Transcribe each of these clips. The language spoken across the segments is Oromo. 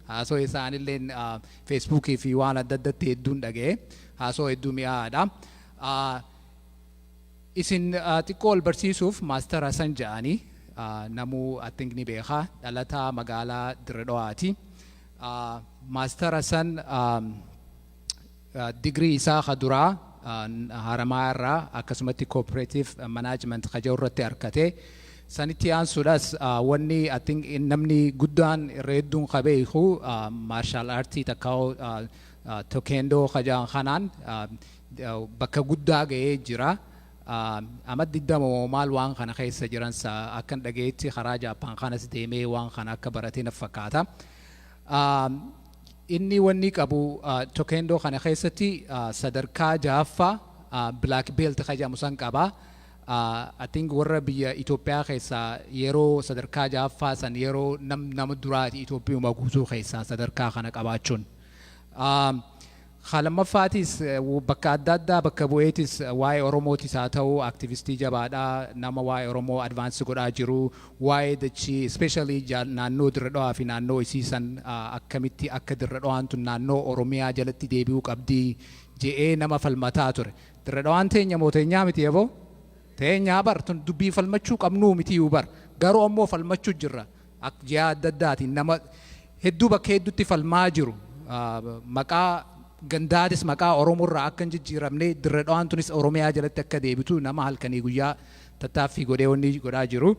Haasoo isaa anilleen Facebook fi waan adda addatti hedduun dhaga'e. Haasoo hedduu mi'aadha. Isin xiqqoo wal barsiisuuf Maastar Hasan ja'anii namuu I think ni beeka dhalataa magaalaa Dirre Dhawaati. Maastar Hasan Degree isaa ka duraa Haramaayaa irraa akkasumatti Cooperative Management ka jedhu irratti arkate. Sanitti aansuudhas wanni I think namni guddaan irra hedduun ka beeku Martial Artii takkaa'uu Tokeendoo ka jedhan kanaan bakka guddaa ga'ee jira. Ama 20 moo maal waan kana keessa jiran sa akkan dhagayetti karaa Japan kanas deemee waan kana akka barate naf fakkaata. Inni wannii qabu Tokendo kana keessatti sadarkaa 6ffaa black belt ka jedhamu san qaba. I think warra biyya Ethiopia keessaa yeroo sadarkaa 6ffaa san yeroo nam nama duraati Ethiopiuma guutuu keessaa sadarkaa kana qabaachuun. Ka lammaffaatiis bakka adda addaa bakka bu'eetis waa'ee Oromootis haa ta'uu activistii jabaadha, nama waa'ee Oromoo advance godhaa jiru, waa'ee dachii especially naannoo Dirre Dhawaa fi naannoo isii san akkamitti akka Dirre Dhawaan tun naannoo Oromiyaa jalatti deebi'uu qabdi je'ee nama falmataa ture. Dirre Dhawaan teenya moo teenyaa miti eboo? Teenyaa bar tun dubbii falmachuu qabnuu mitiyuu bar garuu ammoo falmachuu jirra. Ak ji'aa adda addaatiin nama hedduu bakka hedduutti falmaa jiru. Maqaa gandaatis maqaa Oromoo irraa akka hin jijjiiramne, Dirre Dhawaan tunis Oromiyaa jalatti akka deebitu nama halkanii guyyaa tattaaffii godhee wanni godhaa jiru.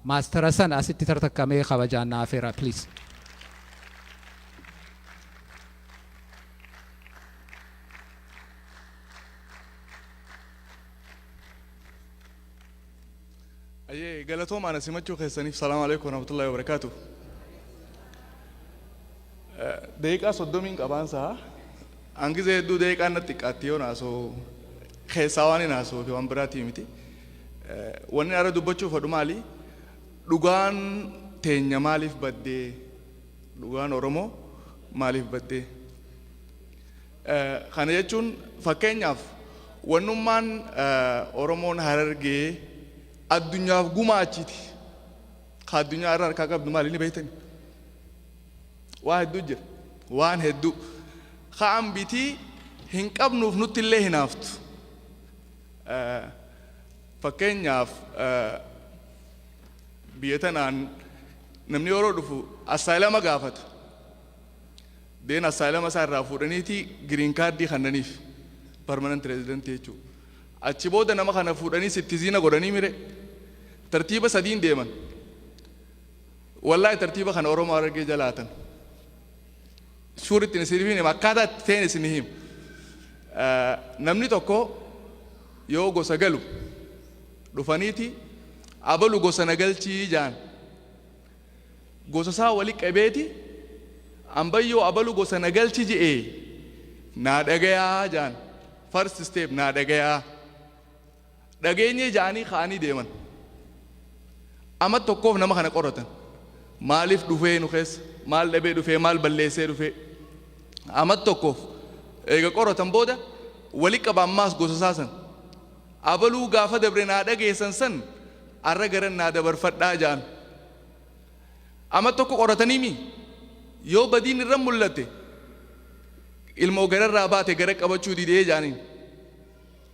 Maastara san asitti tartakka mee kabajaan na afeera please. Ayyee galatooma ana simachuu keessaniif salaamu alaikum warahmatullahi wabarakaatu. Daqiiqaa soddomiin qabaan isaa hangizee hedduu daqiiqaan natti xiqqaatti yoo naasoo keessaa waan hin haasoo fi waan biraatii miti. Wanni ara dubbachuuf hodhu maali? Dhugaan teenya maaliif baddee? Dhugaan Oromoo maaliif baddee? Kana jechuun fakkeenyaaf wannummaan Oromoon Harargee addunyaaf gumaachiti ka addunyaa irra harkaa qabdu maali ni beektani? Waa hedduu jira. Waan hedduu. Ka ambitii hin qabnuuf nutti illee hinaaftu. Fakkeenyaaf biyya tanaan namni yeroo dhufu assaayilama gaafata. Deen asylama isaa irraa fuudhaniiti green card kannaniif permanent resident jechuu. Achi booda nama kana fuudhanii sittizina godhanii mire tartiiba sadiin deeman. Wallahi tartiiba kana Oromoo Harargee jalaatan. Shuuritti isin hima akkaataa itti ta'een isin hima. Namni tokko yoo gosa galu dhufaniiti abalu gosa na galchii jaan. gosasaa wali qabeeti ambayyoo abalu gosa na galchi je'e naa dhagayaa ja'an first step naa dhagayaa dhageenyee ja'anii ka'anii deeman amat tokkoof nama kana qoratan maalif dhufee nu keessa maal dhabee dhufee maal balleessee dhufee amat tokkoof eega qoratan booda wali qaba ammaas gosasaa san Abaluu gaafa dabre naa dhageessan san arra garan naa dabarfadhaa ja'an. Ama tokko qoratanii mi? Yoo badiin irra mullatte ilmoo gararraa baate gara qabachuu didee ja'aniin.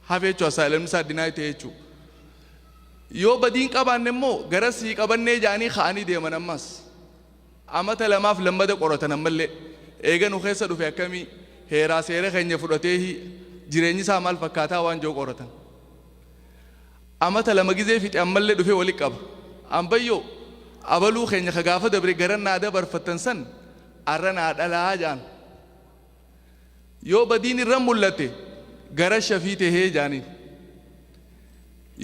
Hafe jechuu asylum isaa deny ta'e jechuu. Yoo badiin qabaanne immoo garas sii qabannee ja'anii ka'anii deeman ammas. Amata lamaaf lammada qoratan ammallee. Eega nu keessa dhufe akkamii, heeraa seera keenya fudhateehii, jireenyi isaa maal fakkaataa waan je'u qoratan. Amata lama gizee fixe ammallee dhufee walitti qaba. Ambayyoo! Abaluu keenya ka gaafa dabre garan naa dabarfattan san arra naa dhalaa ja'an. Yoo badiin irra mul'atte gara shafii tahee jaaniin.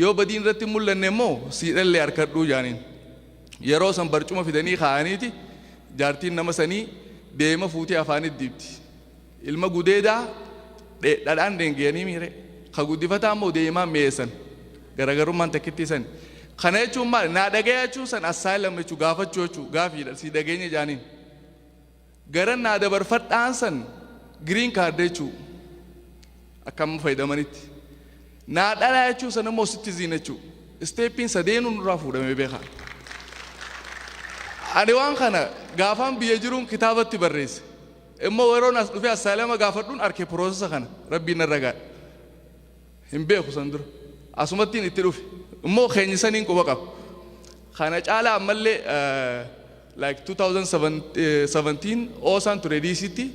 Yoo badiin irratti hin mul'anne immoo siidhallee harkadhuu jaaniin. Yeroo san barcuma fidanii kaa'aniiti jaartiin nama sanii deema fuutee afaanitti diibdi. Ilma gudeedaa dhadhaan dheengeyanii miire ka guddifataa immoo deemaan mi'eessan. Garaagarummaan takkittii sani. Kana jechuun maali? Naa dhagaya jechuun san asylum jechuun gaafachuu jechuun gaafiidha. Si dhageenya jaaniin. Garan naa dabarfadhaan san green card jechuu akka amma fayyadamanitti naa dhalaa jechuu san immoo citizen jechuu steeppiin sadeenuu nurraa fuudhamee beekaa ani waan kana gaafaan biyya jiruun kitaabatti barreesse immoo yeroon as dhufee assaalama gaafadhuun arke piroosesa kana rabbiin narra gaadha hin beeku san dura asumattiin itti dhufe immoo keenyi saniin quba qaba kana caalaa ammallee eh, like 2017 oosaan ture diisitti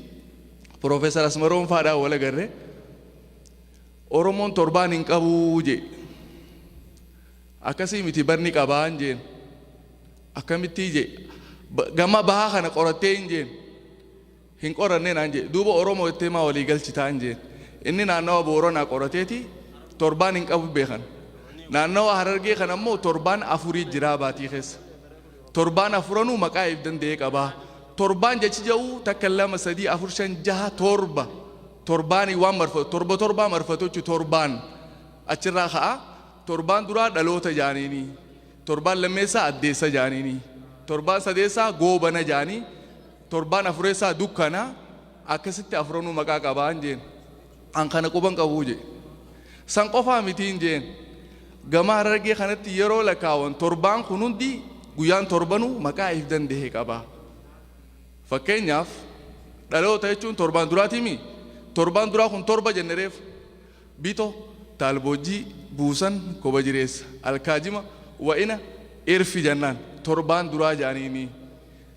piroofeesar asmaroon faadhaa wal agarre oromoon torbaan hin qabuu jee akkasii miti barni qabaan jeen akkamittii jee Ba- gama bahaa kana qorattee hin jeen hin qoranne naan jedhe. Duuba Oromoo jettee maa walii galchitaan jeen. Inni naannawa Booranaa qorateeti torbaan hin qabu beekan. Naannawa Harargee kana immoo torbaan afurii jiraa baatii keessa. Torbaan afuranuu maqaa if danda'ee qabaa. Torbaan jechi ja'u takka lama sadii afur shan jaha torba torbaanii waan marfatu torba torbaa marfatu jechuun torbaan achirraa ka'a. Torbaan duraa dhaloota jaaniini. Torbaan lammeessaa addeessa jaaniini. Torbaan sadeessaa goobana jaanii. Torbaan afureessaa dukkana akkasitti afuranuu maqaa qabaan jeen. An kana quban qabuu jee. San qofaa mitiin jeen. Gama harargee kanatti yeroo lakaawan torbaan kun hundi guyyaan torbanuu maqaa if dandehe qabaa. Fakkeenyaaf dhaloota jechuun torbaan duraatiimi torbaan duraa kun torba jenne reef bito taalboojjii buusan koba jireessa alkaajima wa'ina irfi jannaan torbaan duraa jaaniinii.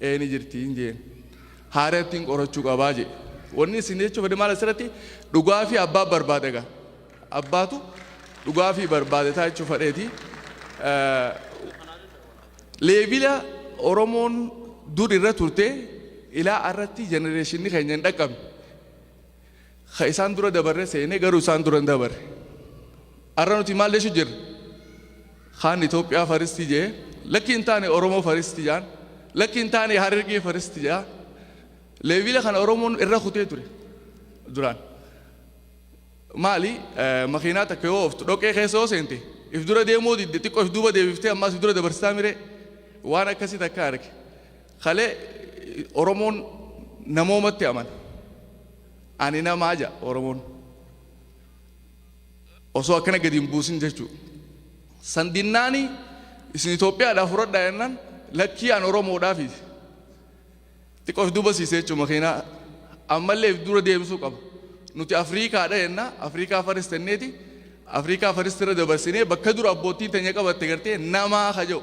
Ee ni jirti hin jeen. Haarayattiin qorachuu qabaa jee. Wanni isin jechuu fedhe maal asirratti dhugaa fi abbaa barbaada gaa. Abbaatu dhugaa fi barbaade taa jechuu fedheeti. Leevila Oromoon dur irra turte ilaa irratti jenereeshinni keenya hin dhaqqabne. Ka isaan dura dabarre seene garuu isaan dura hin dabarre. Arra nuti maal jechu jirra? Kaan Itoophiyaa faristi jee, lakki hin taane Oromoo faristi jaan, lakki hin taane Harargee faristi jaa. Leevila kana Oromoon irra kutee ture duraan. Maali makiinaa takka yoo ooftu dhoqee keessa yoo seente if dura deemuu didde xiqqoo if duuba deebiftee ammaas if dura dabarsitaa miree waan akkasii takka arge. Kalee Oromoon namoomatti amana. Ani namaa jedha Oromoon. Osoo akkana gadi hin buusin jechuu. San dinnaani isin Itoophiyaadhaa fudhadhaa jennaan lakkii an Oromoodhaa fi xiqqoo if duuba siise jechuun makiinaa ammallee if dura deemsuu qaba. Nuti Afriikaadha jennaa Afriikaa faris tenneeti Afriikaa faris irra dabarsinee bakka dura abboottiin teenya qabatte gartee namaa ka jedhu.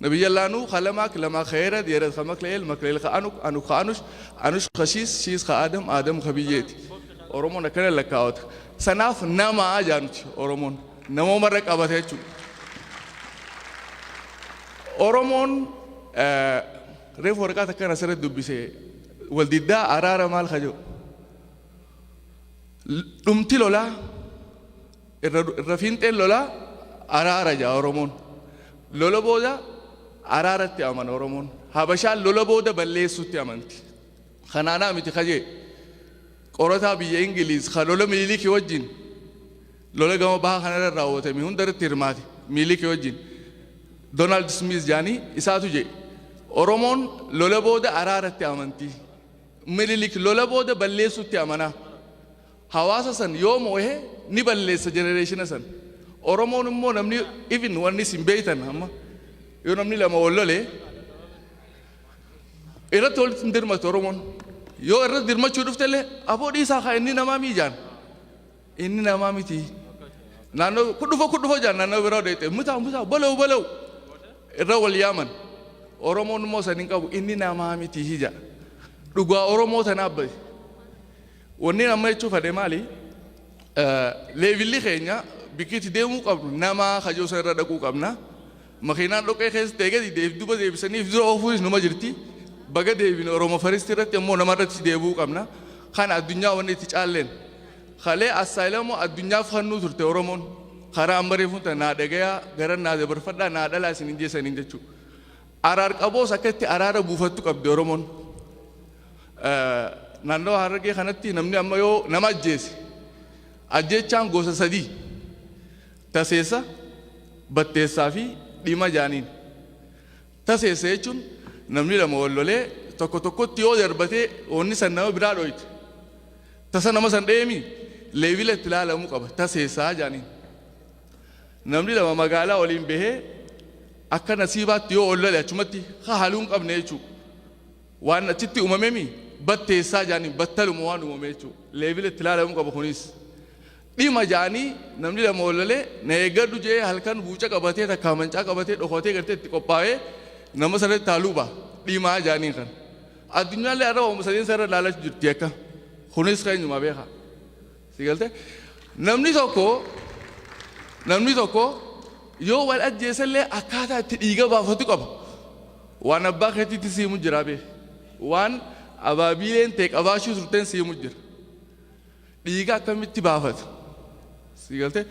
Nabiyyallaa Nuuh kha Lamaak, Lamaak kha Eerad, Eerad kha Makla'eel, Makla'eel kha Anuk, Anuk kha Anush, Anush kha Shiis, Shiis kha Aadam, Aadam kha Biyyeeti. Oromoon akkana lakkaawata. Sanaaf nama jaa nuti Oromoon. Namooma irra qabata jechuudha. Oromoon reefu waraqaa takkan asirratti dubbise wal diddaa araara maal kha jedhu. Dhumti lolaa Irra irra fiinxeen lolaa araara ja'a Oromoon. Lola booda araaratti amana Oromoon. Habashaan lola booda balleessuutti amanti. Kanaanaa miti kajee qorataa biyya Ingiliiz ka lola Miniliki wajjin lola gama baha kanarra raawwatame hunda irratti hirmaate Miniliki wajjin Doonaald Smiiz jaanii isaatu jedhe Oromoon lola booda araaratti amanti. Minilik lola booda balleessuutti amanaa. Hawaasa san yoo moohe ni balleessa generation san. Oromoon immoo namni even wanni isin beeytan amma yoo namni lama wal lole irratti walitti hin dirmatu Oromoon. Yoo irratti dirmachuu dhufte illee aboo dhiisaa haa inni namaa mii jaan. Inni namaa miti. Naannoo kun dhufa kun dhufa jaan naannoo biraa deete mutaa mutaa balau balau irra wal yaaman. Oromoon immoo san hin qabu inni namaa miti hija. Dhugaa Oromoo tanaaf bahe. Wannin amma jechuu fadhe maali? Leevilli keenya bikki itti deemuu qabnu namaa kajoo san irra dhaquu qabna. Makiinaan dhoqqee keessa ta'e gadi deef duba deebisanii dura oofuunis numa jirti. Baga deebine Oromo First irratti ammoo nama irratti deebi'uu qabna. Kana addunyaa wanni itti caalleen. Kalee assaayilamoo addunyaaf hannuu turte Oromoon. Karaa amma reefuun tana naa dhagayaa gara naa dabarfadhaa naa dhalaa isin hin jeesaniin jechuudha. Araar qaboos akka itti araara buufattu qabdi Oromoon. Naannawa Harargee kanatti namni amma yoo nama ajjeese ajjeechaan gosa sadii taseessa, batteessaa fi dhima jaaniin. Taseessa jechuun namni lama wal lolee tokko tokkotti yoo darbatee wanni san nama biraa dhooyte tasa nama san dheemi leevila itti ilaalamuu qaba taseessaa jaaniin. Namni lama magaalaa waliin bahee akka nasiibaatti yoo wal lole achumatti haluun qabne jechuudha. Waan achitti uumamemi batteessaa jedhaniin battaluma waan uumame jechuu leevila itti ilaalamuu qaba kunis. Dhima jedhanii namni lama wal lolee na eeggadhu jedhee halkan buuca qabatee takkaa mancaa qabatee dhokatee gartee itti qophaa'ee nama sana irratti haa luba dhimaa jedhaniin kan. Addunyaallee har'a waanuma sadeen sana irra ilaalaa jirti akka. Kunis keenyumaa beekaa. Si galtee? Namni tokko namni tokko yoo wal ajjeese illee akkaataa itti dhiiga baafatu qaba. Waan abbaa keetiitti si himu jira bee. Waan abaabiileen tee qabaachuu turteen si himu jira. Dhiiga akkamitti baafata? Si galtee?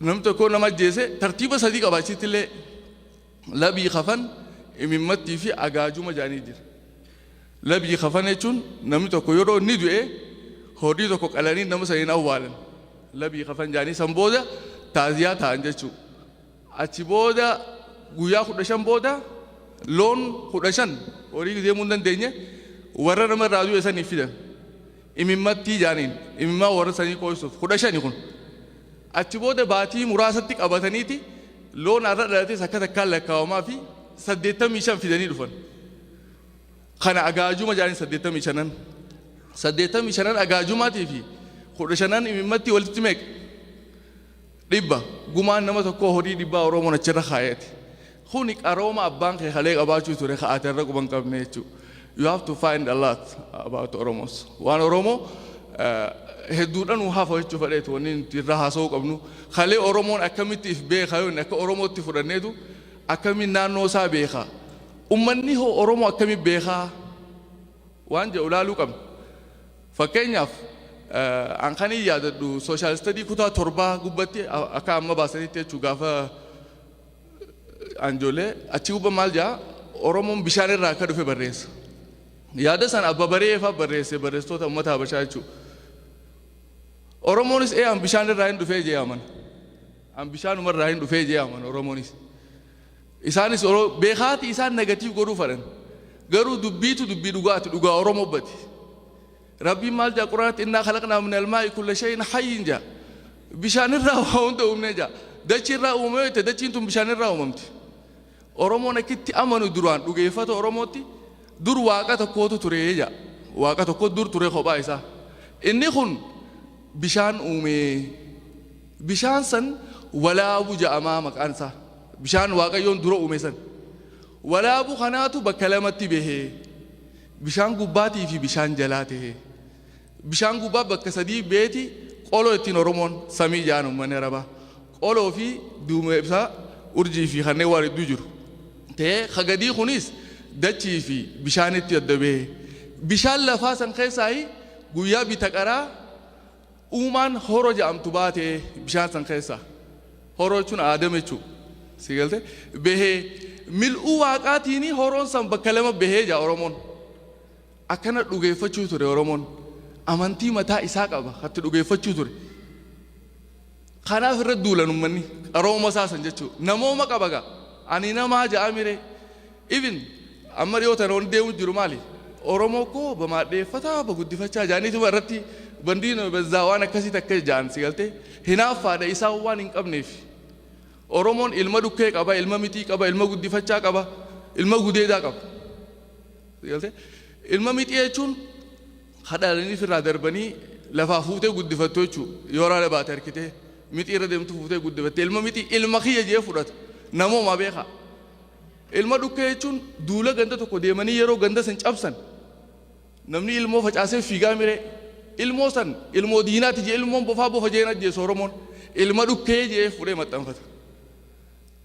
Namni tokko nama ajjeese tartiiba sadii qaba achitti illee Labii kafan, imimmattii fi agaajuma jedhanii jira. Labii kafan jechuun namni tokko yeroo inni du'e horii tokko qalanii nama sana hin awwaalan. Labii kafan jedhanii san booda taaziyaa ta'an jechuudha. Achi booda guyyaa kudha shan booda loon kudha shan horii deemuu hin dandeenye warra nama irraa du'e saniif fidan. imimmattii jaaniin imimmaa warra sanii qooysuuf kudha shani kun achi booda baatii muraasatti qabataniiti loon arra dhalates akka takkaan lakkaawamaa fi saddeettamii shan fidanii dhufan kana agaajuma jaaniin saddeettamii shanan saddeettamii shanan agaajumaatii fi kudha shanan imimmattii walitti meeqa Dhibba, Gumaan nama tokkoo horii dhibbaa Oromoon achirra kaayate. Kuni qarooma abbaan kee kalee qabaachuu ture ka ati har'a quba hin qabne jechuu. You have to find a lot about Oromos. Waan Oromoo eh, hedduudha nu hafa jechuu fedheetu wanni nuti irra haasa'uu qabnu. Kalee Oromoon akkamitti if beeka yoo inni akka Oromootti fudhanneetu akkamiin naannoo isaa beeka. Ummanni hoo Oromoo akkamiin beekaa? Waan jedhu ilaaluu qabna. Fakkeenyaaf, an kanin yaadadhu social study kutaa torbaa gubbatti akka amma baasanitti jechu gaafa an ijoollee achi gubba maal jaa Oromoon bishaan irraa akka dhufe barreessa. Yaada san abba baree faa barreesse barreessitoota ummata habashaa jechu. Oromoonis ee an bishaan irraa hin dhufee jee amana. An bishaanuma irraa hin dhufee jee amana Oromoonis. Isaanis oro beekaati isaan negative godhuu fadhan garuu dubbiitu dubbii dhugaati dhugaa oromo bati rabbiin maal jaa quraanatti innaa khalaqnaa min almaa'i kulla shay'in hayyin jaa bishaanirraa waa hunda uumnee jaa dachiirraa uumame yoo jette dachiin tun bishaanirraa uumamti oromoon akkitti amanu duraan dhugeeffata oromootti dur waaqa tokkootu ture jaa waaqa tokko dur ture kophaa isaa inni kun bishaan uumee Bishaan san walaabu ja'amaa maqaan isaa. Bishaan Waaqayyoon dura uume san. Walaabu kanaatu bakka lamatti behe. Bishaan gubbaatii fi bishaan jalaa tehe. Bishaan gubbaa bakka sadii beeti qoloo ittiin Oromoon samii ja'an uummanni Arabaa. Qoloo fi duumee ibsaa urjii fi kanneen waan hedduu jiru. Ta'ee ka gadii kunis dachii fi bishaanitti adda behe. Bishaan lafaa san keessaayi guyyaa bita qaraa Uumaan horo jedhamtu baatee bishaan san keessaa. Horo jechuun Aadam jechuu. Sii galte? Behee. Mil'uu waaqaatiini horoon san bakka lama behee jedha Oromoon. Akkana dhugeeffachuu ture Oromoon. Amantii mataa isaa qaba katti dhugeeffachuu ture. Kanaaf irra duulan ummanni qarooma isaa san jechuu namooma qaba gaa ani namaa ja'a miree even amma dhiyoo tana wanni deemu jiru maali oromoo koo bamaadheeffataa baguddifachaa jaaniituma irratti bandiino bazzaa waan akkasii takka ja'an si galtee hinaaffaadha isaan waan hin qabneef oromoon ilma dhukkee qaba ilma mixii qaba ilma guddifachaa qaba ilma gudeedaa qaba si galtee ilma mixii jechuun Ka dhalanii firraa darbanii lafaa fuutee guddifattu jechuu yoo raada baate harkitee mixii irra deemtu fuutee guddifatte ilma mixii ilma kiyya jee fudhata namoomaa beekaa ilma dhukkee jechuun duula ganda tokko deemanii yeroo ganda san cabsan namni ilmoo facaasee fiigaa miree ilmoo san ilmoo diinaati jee ilmoon bofaa bofa jeen ajjeesu oromoon ilma dhukkee jee fudhee maxxanfata.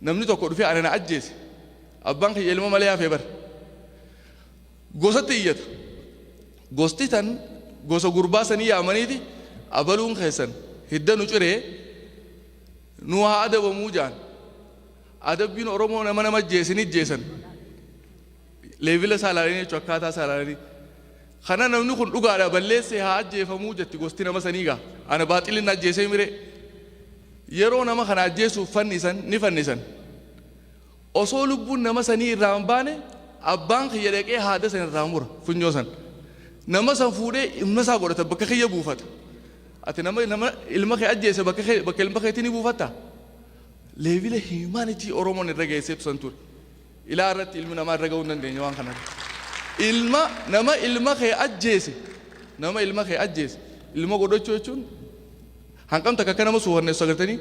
Namni tokko dhufee ana na ajjeese. Abbaan kiyya ilma malee hafe bar. Gosatti iyyata. Gosti tan gosa gurbaa sanii yaamaniiti abaluun keessan hidda nu ciree nu haa adabamuu jaan. Adabbiin Oromoo nama nama ajjeese ni ajjeesan. Leevila saalaalanii jechuun akkaataa saalaalanii. Kana namni kun dhugaadha balleessee haa ajjeefamuu jetti gosti nama sanii gaa. Ana baaxilin ajjeesee miree. Yeroo nama kana ajjeesuuf fannisan ni fannisan. Osoo lubbuun nama sanii irraa hin baane abbaan kiyya dhaqee haada san irraa mura funyoo san. Nama san fuudhee ilma isaa godhata bakka kiyya buufata. Ati nama nama ilma kee ajjeese bakka kee bakka ilma keetii ni buufatta. Leevila himaanitii Oromoon irra geesseetu san ture. Ilaa irratti ilmi namaa irra ga'uu hin dandeenye waan kana irra. Ilma nama ilma kee ajjeese nama ilma kee ajjeese ilma godhachuu jechuun hanqam takka akka nama suukanneessu agartanii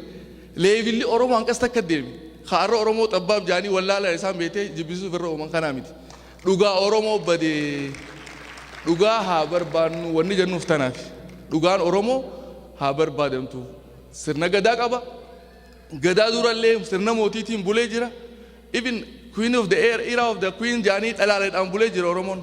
leevilli Oromoo hanqas takka deeme kaarra Oromoo xabbaab jaanii wallaalaan isaan beetee jibbisuuf irra uuman kanaa miti dhugaa Oromoo badee dhugaa haa barbaannu wanni jennuuf tanaaf dhugaan Oromoo haa barbaadamtu sirna gadaa qaba Gadaa dura illee sirna mootiitiin bulee jira. Even queen of the air era of the queen jaanii dhalaaleedhaan bulee jira Oromoon.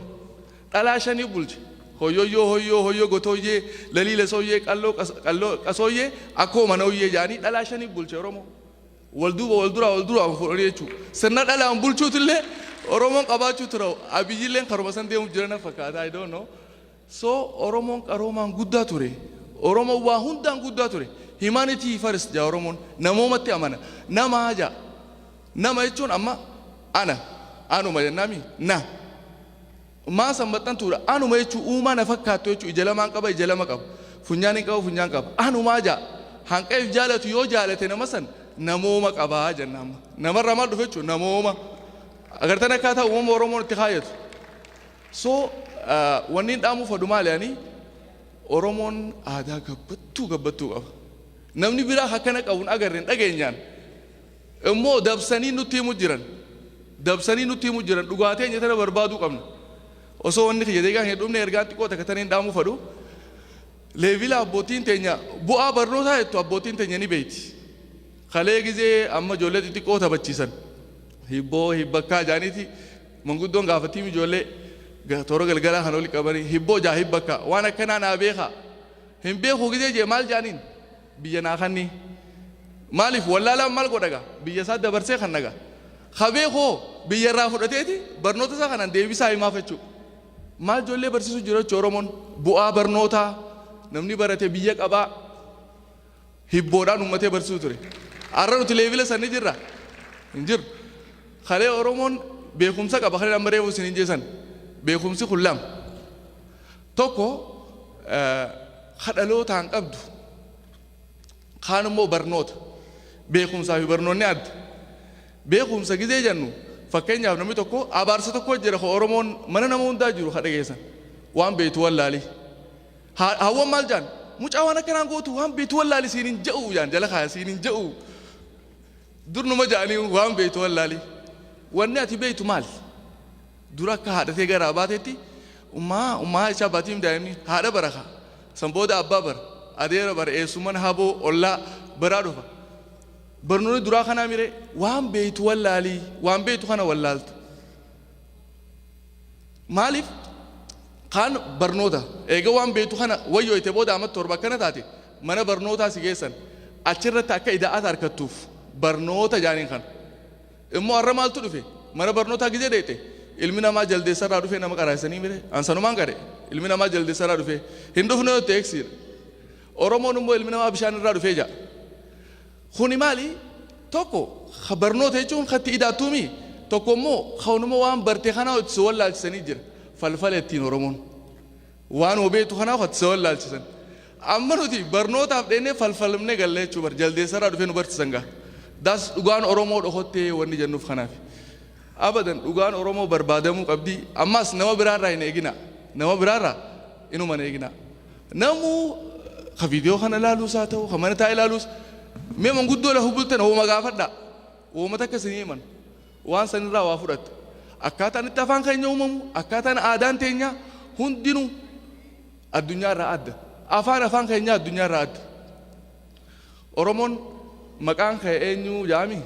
Dhalaa shanii bulche. Hoyyoyyoo hoyyoo hoyyoo gotooyyee lalii lasooyyee qalloo qas- qalloo qasooyyee akkoo manooyyee jaanii dhalaa shanii bulche Oromoo. Wal duuba wal duraa wal duraa fuudhanii jechuudha. Sirna dhalaan bulchuutu illee Oromoon qabaachuu tura. Abiyyilleen karuma san deemuuf jirana fakkaata. I don't know. So oromoon qaroomaan guddaa ture. Oromoon waa hundaan guddaa ture. Humanity first ja'a oromoon. Namoomatti amana. Namaa ja'a. Nama jechuun amma ana. Anuma jennaami. Na. Maa san maxxantuudha. Anuma jechuun uumaa na fakkaattu jechuun ija lamaan qaba ija lama qaba. Funyaan hin qaba funyaan qaba. Anumaa ja'a. Hanqa if jaalatu yoo jaalate nama san namooma qaba jenna amma. Namarraa maal dhufe jechuun namooma. Agartan akkaataa uumama oromoon itti kaayyatu. So wanniin dhaamuu fadhu maali ani Oromoon aadaa gabbattuu gabbattuu qaba. Namni biraa akkana qabu hin agarre hin dhageenyaan immoo dabsanii nutti himu jiran dabsanii nutti himu jiran dhugaa teenya tana barbaaduu qabna. Osoo wanni kiyya deegaan hin dhumne ergaan xiqqoo takka taniin dhaamuu fadhu. Leevila abbootiin teenya bu'aa barnootaa jettu abbootiin teenya ni beeyti. Kalee gizee amma ijoollee xixiqqoo taphachiisan hibboo hibbakkaa jaaniiti Manguddoon gaafattiim ijoollee ga toora galgalaa kana wali qabanii hibboo jaa hibba akkaa waan akkanaa naa beekaa hin beekuu gizee jee maal jaaniin biyya naa kannii maaliif wallaalaan maal godha ga biyya isaa dabarsee kanna ga ka beeku hoo biyya irraa fudhateeti barnoota isaa kanan deebisaa himaaf jechuu maal ijoollee barsiisuu jira jechuu oromoon bu'aa barnootaa namni barate biyya qabaa hibboodhaan uummatee barsiisuu ture. Har'a nuti leevila san ni jirra? Hin jirru. Kalee Oromoon beekumsa qaba kan amma reefu isiniin jee san. Beekumsi kun lama. Tokko ka dhalootaan qabdu kaan immoo barnoota. Beekumsaa fi barnoonni adda. Beekumsa gizee jennu fakkeenyaaf namni tokko abaarsa tokko jira ka Oromoon mana nama hundaa jiru ka dhageessan waan beektu wallaalii. Haa, haawwan maal jaan? Mucaa waan akkanaan gootu waan beektu wallaali siin hin ja'u jaan jala kaaya siin hin ja'u. Durnuma ja'anii waan beektu wallaali. Wanni ati beektu maal? Dura akka haadhatee garaa baatetti ummaa ummaa jechaa baatiim daa'imni haadha bara kaa. San booda abbaa bara adeera bara eessumman haboo ollaa baraa dhufa. Barnoonni duraa kanaa miree waan beektu wallaali waan beektu kana wallaalta. Maaliif kaan barnoota eega waan beektu kana wayyooyte booda amat torba akkana taate mana barnootaa si geessan achirratti akka ida'ata arkattuuf barnoota jaaniin kana immoo arra maaltu dhufe mana barnootaa gizee deeqxe ilmi namaa jaldeessarraa dhufee nama qaraasanii mire ansanumaan qare ilmi namaa jaldeessarraa dhufee hin dhufne yoo ta'e eegsiidha Oromoon immoo ilmi namaa bishaan irraa dhufee ja'a Kuni maali? Tokko ka barnoota jechuun ka itti idaattuu mii? Tokko immoo kanuma waan barte kanaa itti si wallaalchisanii jira. Falfala ittiin Oromoon. Waanuma beektu kanaa itti si wallaalchisan. Amma nuti barnootaaf dheennee falfalmnee galla jechuu bar jaldeessarraa dhufee nu barsiisan gaa. Daas dhugaan Oromoo dhokottee wanni jennuuf kanaafi. Abadan dhugaan oromoo barbaadamuu qabdii ammaas nama biraa irraa hin eeginaa nama biraa irraa inuma hin eeginaa namuu ka viidiyoo kana ilaaluus haa ta'u ka mana taa'ee ilaaluus mee manguddoo lafa bultan hooma gaafadhaa hooma takka isin himan waan san irraa waa fudhatta akkaataan itti afaan keenya uumamu akkaataan aadaan teenyaa hundinuu addunyaa irraa adda afaan afaan keenyaa addunyaa irraa adda Oromoon maqaan kee eenyu jaami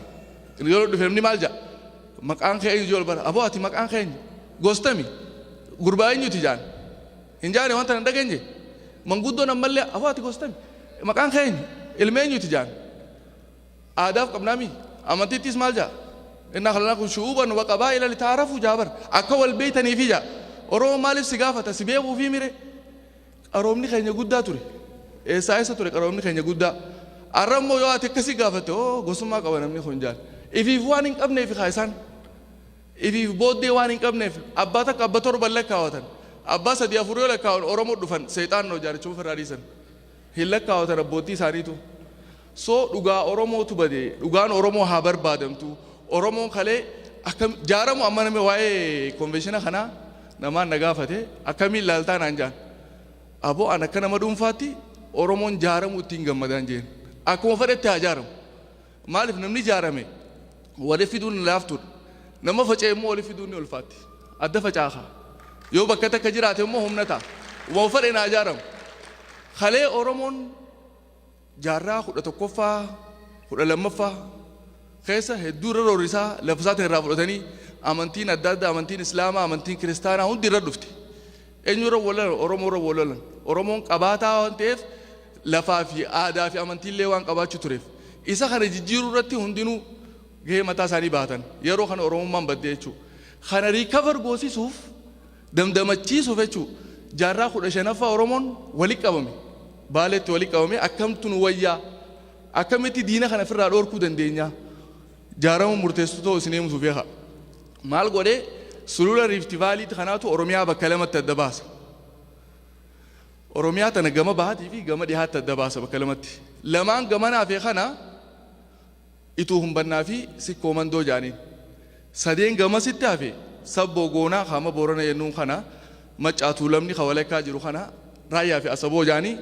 yoo dhufe namni maal jaa maqaan kee eenyu jol bara aboo ati maqaan kee eenyu gostami gurbaa eenyuti jaan hin jaane wanta hin dhageenye manguddoon ammallee aboo ati gostami maqaan kee eenyu ilma eenyuti jaan aadaaf qabnaami amantiittis maal jaa inna khalaqnakum shu'uban wa qabaa'ila litaarafu jaabar akka wal beeytaniifi jaa oromoo maaliif si gaafata si beekuufi mire Qaroomni keenya guddaa ture. Eessaa eessa ture qaroomni keenya guddaa? Arra immoo yoo ati akkasii gaafatte oo gosummaa qaba namni kun jaal. Ifiif waan hin qabneef kaa isaan. Ifiif booddee waan hin qabneef abbaa takka abba torban lakkaawatan. Abbaa sadii afur yoo lakkaawan Oromoo dhufan seexaannoo jaarichuma ofirraa dhiisan. Hin lakkaawatan abbootii isaaniitu. So dhugaa oromootu bade dhugaan oromoo haa barbaadamtu oromoon kalee akka jaaramu amma namni waa'ee konveeshina kanaa namaan na gaafate akkamiin ilaaltaa naan jaan aboo an akka nama dhuunfaatti oromoon jaaramu ittiin gammadaan jeen akkuma fedhetti haa jaaramu maaliif namni jaarame wali fiduun laaftuudha nama faca'e immoo wali fiduun ni ulfaatti adda facaaha yoo bakka takka jiraate immoo humna ta'a waan fedhe naa jaaramu kalee oromoon Jaarraa 11ffaa, 12ffaa keessa hedduu irra roorrisaa lafa isaatiin irraa fudhatanii amantiin adda addaa amantiin Islaamaa amantiin Kiristaanaa hundi irra dhufte. Eenyu irra wal lolan? Oromoo irra wal lolan. Oromoon qabaataa waan ta'eef lafaa fi aadaa fi amantiillee waan qabaachuu tureef isa kana jijjiiruu irratti hundinuu gahee mataa isaanii bahatan. Yeroo kana Oromummaan badde jechuudha. Kana riikavar goosisuuf damdamachiisuuf jechuu jaarraa 15ffaa Oromoon wali qabame Baaleetti wali qabamee akkamtu nu wayyaa akkamitti diina kana firraa dhoorkuu dandeenyaa jaarama murteessu ta'u isin eemsuuf yaka maal godhee sulula riifti vaaliitti kanaatu Oromiyaa bakka lamatti adda baasa Oromiyaa tana gama bahaatii fi gama dhihaatti adda baasa bakka lamatti lamaan gamanaa fi kana Ituu Humbannaa fi Sikkoo Mandoo jaaniin. Sadeen gamasitti hafe Sabboo Goonaa ka amma Boorana jennuun kana, Maccaa Tuulamni ka walakkaa jiru kana, Raayyaa fi Asaboo jaanii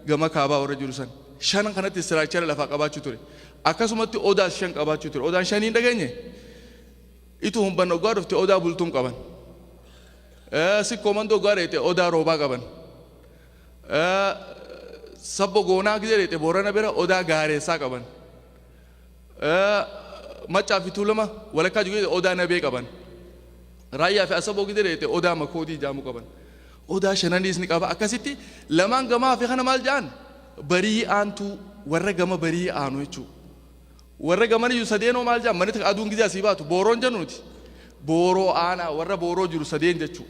gama kaabaa warra jiru san. Shanan kanatti istiraakchara lafaa qabaachuu ture. Akkasumatti Odaas shan qabaachuu ture. Odaan shanii hin dhageenye? Ituu Humbanna oggaa dhufte Odaa Bultum qaban. Sikkoo Mandoo oggaa dhayxe Odaa Roobaa qaban. Sabbo Goonaa gizee dheexe Boorana bira Odaa Gaareessaa qaban. Maccaa fi Tuulama walakkaa jiru gizee Odaa Nabee qaban. Raayyaa fi Asaboo gizee dheexe Odaa Makoodii jaamu qaban. Odaa Shananiis ni qaba. Akkasitti lamaan gamaa fi kana maal ja'an? Barii aantuu warra gama barii aanu jechuudha. Warra gamaniyyu sadeenoo maal jedhama? Manita aduun gizee asii baatu booroon jennu nuti. Booroo aanaa warra booroo jiru sadeen jechuu.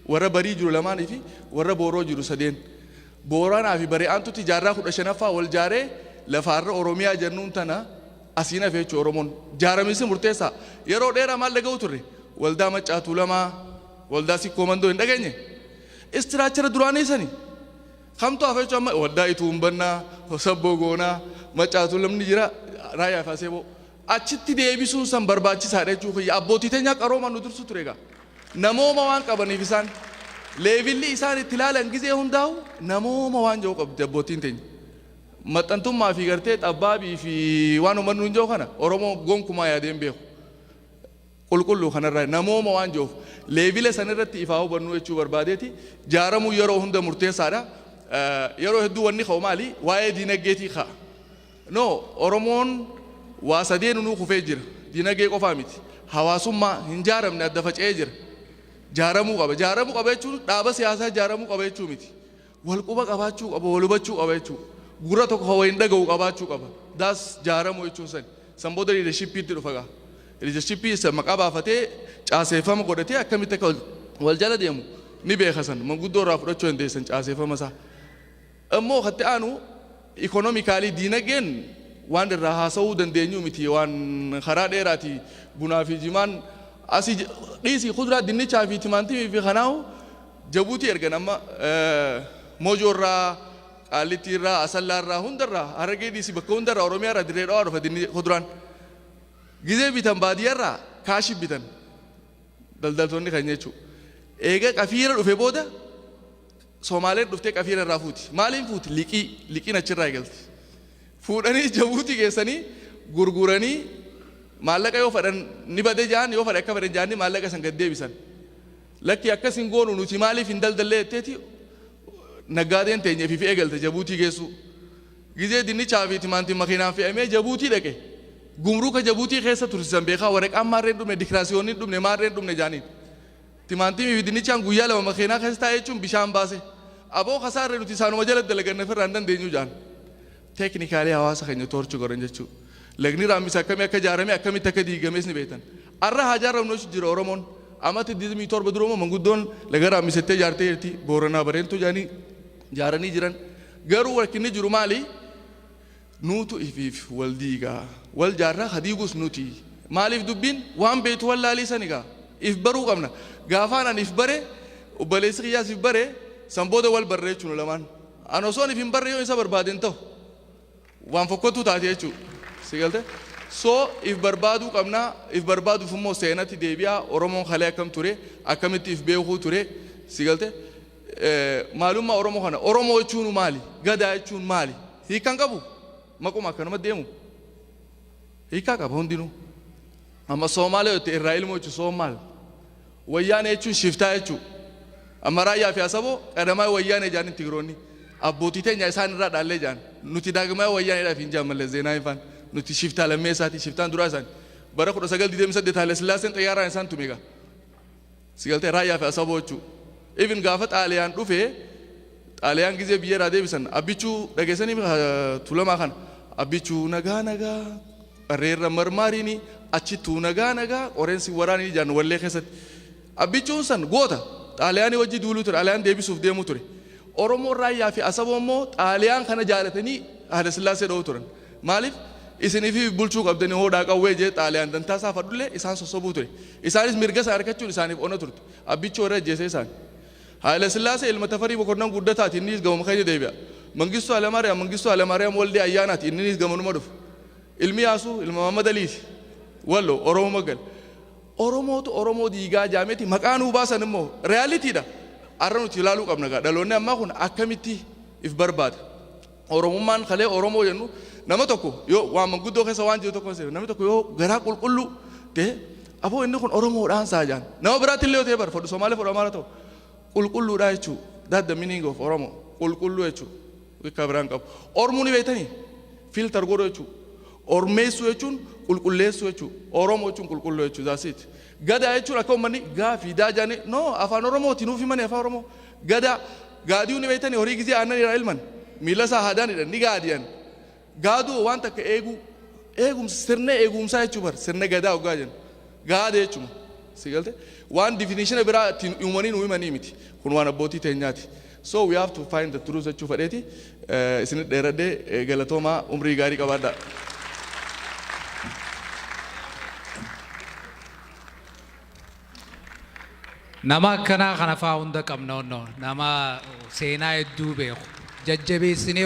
Warra barii jiru lamaanii fi warra booroo jiru sadeen. Booranaa fi Bari'aantutti jaarraa kudha shanaffaa wal jaaree lafaarra Oromiyaa jennuun tana asiin hafe jechuudha Oromoon. Jaaramiinsi murteessaa. Yeroo dheeraa maal dhaga'uu turre? Waldaa Maccaa Tuulamaa, Waldaa Sikkoo Mandoo hin dhageenye? Istiraachara duraanii sani. Kamtu hafa jechuun amma Waddaa Ituun bannaa, Hosabboo goonaa, Maccaa Tuulamni jira, Raayyaa fi Aseeboo. Achitti deebisuun san barbaachisaadha jechuu kiyya. Abbootii teenyaa qaroomaan nu dursu ture egaa. Namooma waan qabaniif isaan. Leevilli isaan itti ilaalan gizee hundaahu namooma waan jedhu qabdi abbootiin teenya. Maxxantummaa fi gartee xabbaabii fi waan ummanni nuun jedhu kana Oromoo gonkumaa yaadee hin beeku. qulqulluu kana irraa namooma waan jiruuf leevila san irratti ifaa hubannuu jechuu barbaadeeti jaaramuu yeroo hunda murteessaadha yeroo hedduu wanni ka'u maali waa'ee diinagdeetii ka'a no oromoon waa sadee nunuu kufee jira diinagdee qofaa miti hawaasummaa hin jaaramne adda faca'ee jira jaaramuu qaba jaaramuu qaba jechuun dhaaba siyaasaa jaaramuu qaba jechuu miti Wal quba qabaachuu qaba, wal hubachuu qaba jechuudha. Gurra tokko kan waliin dhaga'u qabaachuu qaba. That's jaaramuu jechuun sani. San booda liidershippiitti dhufa gaa. Liidershippii isa maqaa baafatee caaseeffama godhatee akkamitti akka wal jala deemu ni beeka san. Manguddoo irraa fudhachuu dandeessan caaseeffama isaa. Immoo katti aanu Economically diinageen waan irraa haasawuu dandeenyuu miti waan karaa dheeraati bunaa fi jimaan asi dhiisi kudraa dinnichaa fi timaantimii fi kanaahu jabuutii ergan amma mojoo irraa qaallittii irraa asallaa irraa hunda irraa harargee dhiisi bakka hunda irraa oromiyaa irraa dirree dhawaa dhufa dinni kuduraan gizee bitan baadiyyaa irraa kaashi bitan daldaltoonni kan jechuu eega qafiira dhufe booda Somaaleen dhuftee qafiira irraa fuuti. Maaliin fuuti? Liqii. Liqiin achirraa eegalti. Fuudhanii Jabuutii geessanii gurguranii maallaqa yoo fadhan ni bade ja'an yoo fadhe akka fadhe ja'anii maallaqa san gad deebisan. Lakkii akkas hin goonu nuti maaliif hin daldallee jetteeti naggaadeen teenya fi fi eegalte Jabuutii geessuu. Gizee dinnichaa fi timaantiin makiinaan fe'amee Jabuutii dhaqe. Gumruuka Jabuutii keessa tursisan beekaa waraqaan maarreen dhumne dikiraasiyoonni hin dhumne maarreen dhumne ja'aniin. Timaantimii fi dinnichaan guyyaa lama makeenaa keessa taa'e jechuun bishaan baase. Aboo kasaarre nuti isaanuma jala dalaganna ofirraa hin dandeenyu jedhan. Teeknikaalii hawaasa keenya toorchi godhan jechuu. Lagni Raammis akkamii akka ijaarame akkamitti akka diigames ni beektan. Arra haa ijaarramnu jechu jira Oromoon. Amata 27 dura immoo manguddoon laga Raammis jettee ijaartee jirti. Booranaa Bareentuu jedhanii ijaaranii jiran. Garuu rakkinni jiru maali? Nuutu ifiif wal diiga. Wal jaarra ka diigus nuti. Maaliif dubbiin waan beektu wallaalii sani gaa. If baruu qabna. Gaafaan ani if bare obboleessi kiyyaas if bare san booda wal barre jechuun nu lamaan. An osoon if hin barre yoon isa barbaade hin tahu. Waan fokkottuu taati jechuu. Si galte? So if barbaaduu qabna. If barbaaduuf immoo seenatti deebi'aa. Oromoon kalee akkam ture? Akkamitti if beekuu ture? Si galte? Maalummaa Oromoo kana Oromoo jechuun maali? Gadaa jechuun maali? Hiika hin qabu? Maquma akkanuma deemu? Hiikaa qaba hundinuu. Amma Soomaalee yoo ta'e irraa ilmoo jechuun Soomaal. Wayyaanee jechuun shiftaa jechuudha. Amma raayyaa fi asaboo qadamaa wayyaanee jedhanii tigiroonni abbootii teenya isaan irraa dhaallee jedhan nuti daagmaa wayyaaneedhaaf hin jedhan mallee zeenaa ifaan nuti shiftaa lammee isaatii shiftaan duraa isaanii bara 1928 Haile Sillaaseen xayyaaraan isaan tume egaa Si galtee Raayyaa fi Asaboochu. Even gaafa Xaaliyaan dhufe Xaaliyaan gizee biyya irraa deebisan Abbichuu dhageessanii ha, Tuulamaa kana Abbichuu nagaa nagaa qarreerra marmaariini achittuu nagaa nagaa qoreen si waraaniini jaan wallee keessatti. Abbichuun san goota Xaaliyaanii wajji duuluu ture Xaaliyaan deebisuuf deemuu ture. Oromoon Raayyaa fi Asaboo immoo Xaaliyaan kana jaalatanii Haayilasillaasee dha'uu turan. Maaliif isinifi bulchuu qabdani hoodhaa qawwee jedhee Xaaliyaan dantaa isaa fadhullee isaan sossobuu ture. Isaanis mirga sana arkachuun isaaniif ona turte. Abbichuu warra ajjeese isaani. Haayilasillaasee ilma Tafarii Mokonnan Guddataati inniis gamuma keenya deebi'a. Mangistuu Haylamaariyaam Mangistuu Haylamaariyaam Waldee Ayyaanaati inninis gamanuma dhufa. Ilmi Yaasuu ilma Mahammad Aliiti. Walloo Oromuma gale. Oromootu Oromoo diigaa jaameti maqaa nuu baasan immoo reality dha. Arra nuti ilaaluu qabna gaa dhaloonni ammaa kun akkamitti if barbaada. Oromummaan kalee Oromoo jennu nama tokko yoo waan manguddoo keessa waan jiru tokko seenu namni tokko yoo garaa qulqulluu ta'e aboo inni kun Oromoodhaan isaa jaan nama biraatti illee yoo ta'e bar fodhu Somaalee fodhu Amaara ta'u qulqulluudhaa jechuu that the meaning of Oromo qulqulluu jechuu wikkaa biraan qabu Ormuu ni beektanii filter godhu jechuu Ormeessuu jechuun qulqulleessuu jechuu Oromoo jechuun qulqulluu jechuu that's it Gadaa jechuun akka ummanni gaa fi daa jaane no afaan oromoo ti nuuf himani afaa oromoo gadaa gaadiyu ni beeytani horii gizee aannan iraa ilman miila isaa haadaan hidhan ni gaadiyan gaaduu waan takka eeguu eegumsa sirna eegumsaa jechuu bar sirna gadaa oggaa jennu gaada jechuma si galte waan difinishina biraa ittiin uumanii nuu himanii miti kun waan abbootii teenyaati. So we have to find the truth jechuu fadheeti isinit dheeradhe galatoomaa umrii gaarii qabaadhaa. Nama akkanaa kana fa'aa hunda qabna onnoo nama seenaa hedduu beeku jajjabeessinee